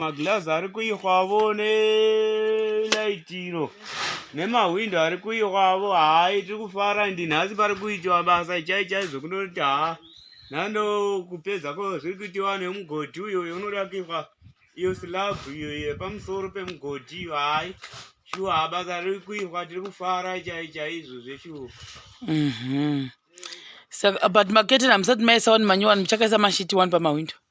maglazi ari kuihwavo nelaitiro nemahwindo ari kuihwavo hai tiri kufara ndi nhasi pari kuitiwa basa chai chai zvekundoti haa nhando kupedza ko zviri kuitiwa nemugodhi uyo uyo unoda kuihwa iyo silabhu iyo yepamusoro pemugodhi iyo hai shuwa basa riri kuihwa tiri kufara chai chaizvo zveshuwa mhm. but maketeni hamusati maisa wani manyowani muchakaisa mashiti wani pamahwindo mm -hmm.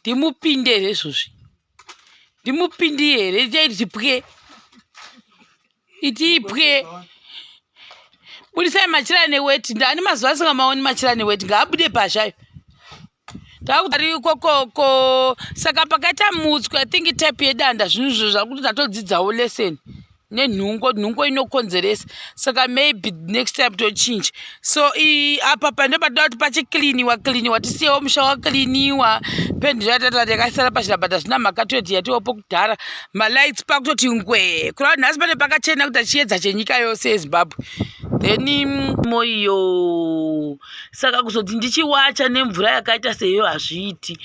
ndimupinde here izvozvi ndimupindi here chaitipwe itipwe budisai machira neweti ndani mazuva asingamaoni machira neweti ngaabude pazvayo ndaakuarikokoko saka pakaita mutswi i think type yedanda zvinhu izvo zvakuti ndatodzidzawo lesson nenhungo nhungo inokonzeresa saka maybe next time tochinja so apa pande patoda kuti pachikliniwa kliniwa tisiyewo musha wakliniwa pendi ratata yakaisara pachirabata zvina mhaka toiti yatiwopo kudhara malights pakutoti ngwee kurava nhasi pane pakachena kuita chiedza chenyika yose yezimbabwe then mm, moyo saka kuzoti ndichiwacha nemvura yakaita seyo hazviiti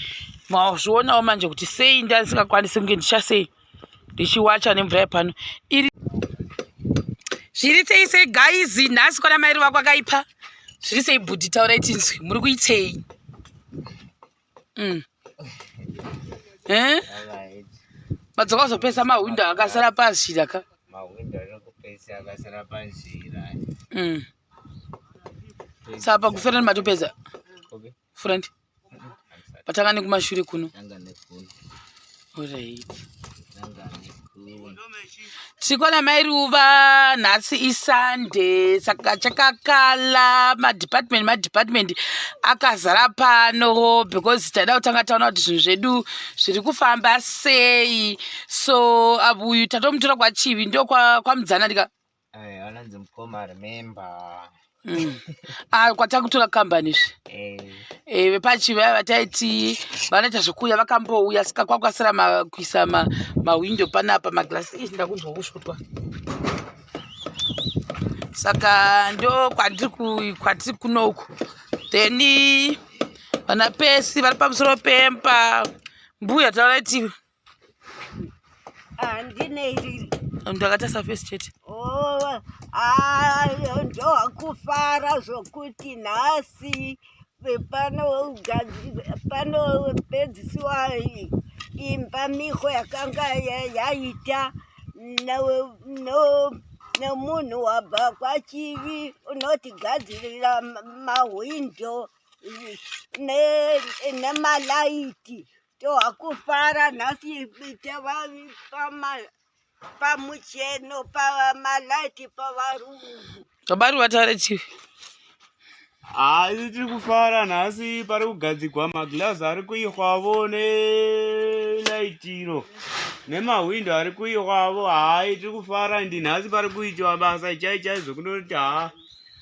mazvionawo manje kuti sei ndandisingakwanisi kunge ndichasei ndichiwacha nemvura yepano iri zviri sei sei gaizi nhasi kwana mairi vako akaipa zviri sei bhudhi taura itinzwi muri kuitei mm. eh? madzoka kuzopesa mahwindo akasara panzira ka mm. saka pakuferani matopedza front patanga nekumashure kuno orit tikona mai ruva nhasi isunday saka chakakala madepartment madepartment akazara pano because taida kutanga taona kuti zvinhu zvedu zviri kufamba sei so abuyu tatomutora kwachivi ndokwamudzana kwa ndika Eh, anonzi mukoma remember Mm. Ah, kwatakutora kambani izvi Eh, Eh, vepachiva vataiti vanoita zvekuuya vakambouya saka kwakukasira ma- kuisa ma- mahwindo panapa magirasi izvi ndakunzwa kusvotwa saka ndo kwandiri ku- kwatiri kunoku then vana pesi vari pamusoro pemba mbuya taura iti handine ah, iri mntu akatasa fesi chete oh, ah, ndokufara zvokuti nhasi panopedzisiwa imba miko yakanga yaita nemunhu wabva kwachivi unotigadzirira mahwindo nemalaiti toakufara nhasi tavavipama pamucheno pamalaiti pavarungu vabari vataure chii haisi tiri kufara nhasi pari kugadzigwa maglazi ari kuihwavo nelaitiro nemahwindo ari kuihwavo hai tiri kufara ndi nhasi pari kuitiwa basa chai chai zvokunoti ha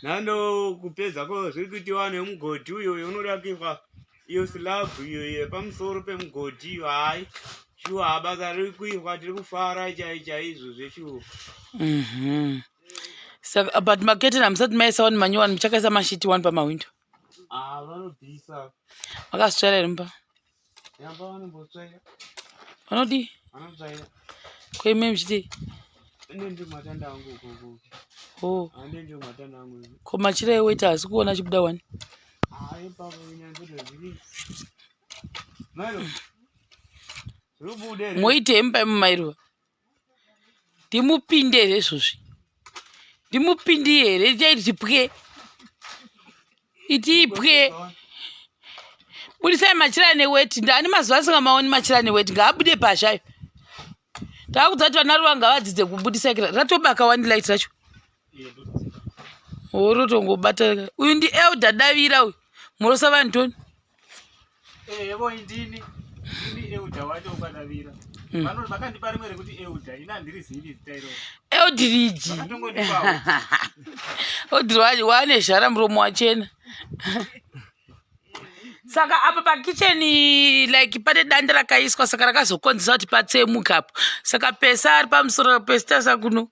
nando kupedza ko zviri kuitiwa nemugodhi uyo unoda kuihwa iyo silabhu iyo yepamusoro pemugodhi iyo hayi shuwa habasa riri kuitwa tiri kufara chai chaizvo zveshuwa mhm. saka uh, but maketeni hamusati maisa wani manyowani muchakaisa mashiti wani pamahwindo ah, vanobvisa vakasitsvaira here mumba yamba vanombotsvaira vanodii vanotsvaira koime muchidii ko machira eweta hasi kuona chibuda wani Hayi baba unyanzodwa zviri. Mairo. Rubude. Moite imba mumairo. Ndimupinde here izvozvi? Ndimupindi here itai tipwe? Iti ipwe. Budisai machira neweti. Ndani mazuva asingamaoni machira neweti. Ngaabude pazhayo. Taakudza kuti vana ruva ngavadzidze kubudisa kira. Ratobaka wani light racho. orotongobata uyu ndi elda davira uyu murosa vanhu toni evo eh, indini ini elda wacho ukadavira hmm. vakandipa rimwe rekuti elda ini handiri zivi zita iro eldiriji odiri wane zhara muromo wachena saka apa pakicheni like pane danda rakaiswa saka rakazokonzesa kuti patsemuka apo saka pesa ari pamusoro pesitasa kuno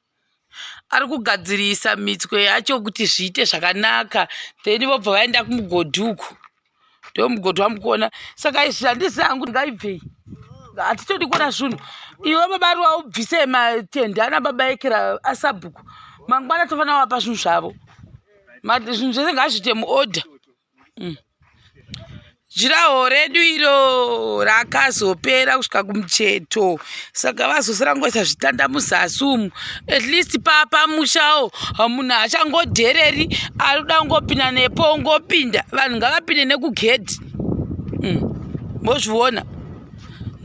ari kugadzirisa mitswe yacho kuti zviite zvakanaka then vobva vaenda kumugodhi uko ndo mugodhi wamukuona saka izvi handisi hangu ngaibvei hatitodi kuona zvinhu iwe baba ari waubvise matende ana baba ekera asabhuku mangwana tofanira wapa zvinhu zvavo zvinhu zvese ngazviite muorder mm. jiraho redu iro rakazopera kusvika kumucheto saka vazosara ngoisa zvitanda muzasi umu at least papa mushawo munhu achangodhereri arikuda kungopinda nepo ungopinda vanhu ngavapinde nekugedhi mm. mozviona mm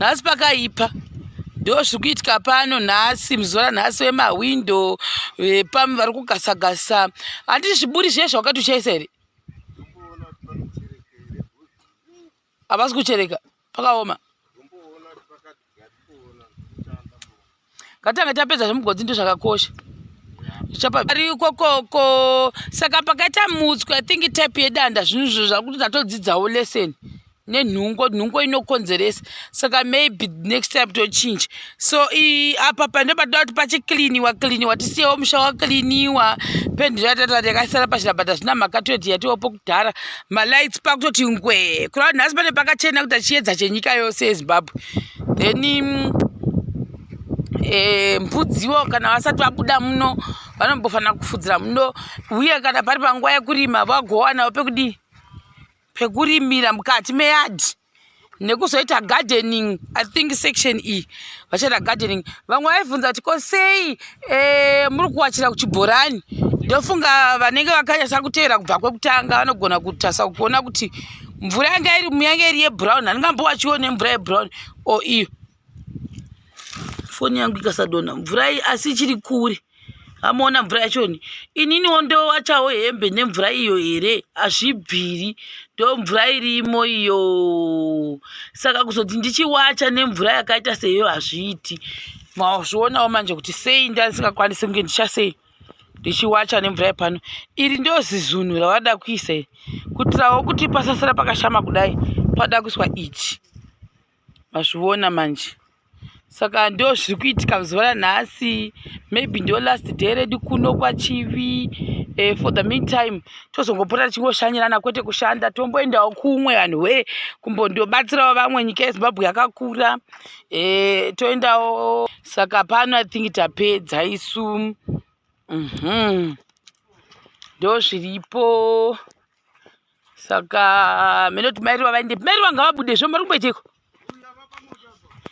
nhasi pakaipa ndo zviri kuitika pano nhasi muzuva ranhasi vemahwindo vepam vari kugasagasa handiti zviburi zviye zvawakati uchaisa here havasi kuchereka pakaoma ngatange tapedza zvemugodzi ndo zvakakosha zvichapaari ikokoko saka pakaita mutswi i think type yedanda zvinhu zvo zvakuti ndatodzidzawo lesson nenhungo nhungo inokonzeresa saka maybe next time tochinja so apa pande patoda kuti pachikliniwa kliniwa tisiyewo musha wakliniwa pendi ratata yakasara pachira but hazvina mhaka toti yatiwopo kudhara malights pakutoti ngwee kurava nhasi pane pakachena kuita chiedza chenyika yose yezimbabwe then eh, mpudziwo kana vasati vabuda muno vanombofanira kufudzira muno uye kana pari panguva yekurima vagowanavo pekudii pekurimira mukati meyadhi nekuzoita gardening i think section e vachaita gardening vamwe vaibvunza kuti ko sei eh, muri kuwachira kuchibhorani ndofunga vanenge vakanyasa kuteera kubva kwekutanga vanogona kutasa kuona kuti mvura yanga iri muyange iri yebrown handingambowachiwo nemvura yebrown o iyo foni yangu ikasadonha mvura iyi asi ichiri kure amoona mvura yachoni ininiwo ndowachawo hembe nemvura iyo here hazvibviri ndo mvura irimo iyo saka kuzoti ndichiwacha nemvura yakaita seyo hazviiti mazvionawo manje kuti sei ndandisingakwanisi kunge ndichasei ndichiwacha nemvura yepano iri ndo zizunhu ravada kuisa iri kutirawo kuti pasasira pakashama kudai pada kuiswa ichi mazviona manje saka ndo zviri kuitika zuva ranhasi maybe ndo last day redu kuno kwachivi eh, for the meantime tozongopota tichingoshanyirana kwete kushanda tomboendawo kumwe vanhu wee kumbondobatsirawo vamwe nyika yezimbabwe yakakura eh, toendawo saka pano i think tapedza isu mm -hmm. ndo zviripo saka mene kuti mairi vavaende mairi vanga vabude zvo muri kumboitiko